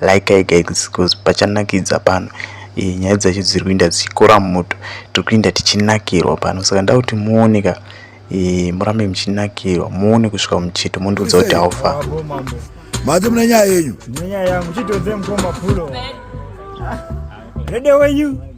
like i guys because pachanakidza pano e, nyaya dzacho dziri kuinda dzichikora mumoto tiri kuinda tichinakirwa pano saka nda kuti muone ka e, murambe muchinakirwa muone kusvika muchito mondiudza kuti haufa mati mune nyaya yenyu rede wenyu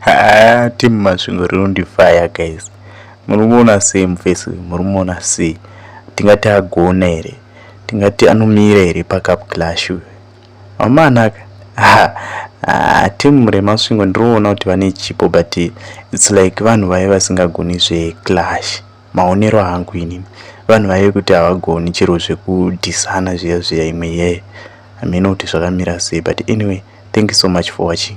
haa team masvingo rinondifaya guys murimuona sei mufesi uyu murimuona sei tingati agona here tingati anomira here pacup clash uyu amanaka ah, team remasvingo ndiriona kuti vane chipo but its like vanhu vaye vasingagoni zveclash maonero angu inini vanhu vaive kuti havagoni chero zvekudhisana zviya zviya imwe yeye hameno kuti zvakamira sei but anyway thank you so much for watching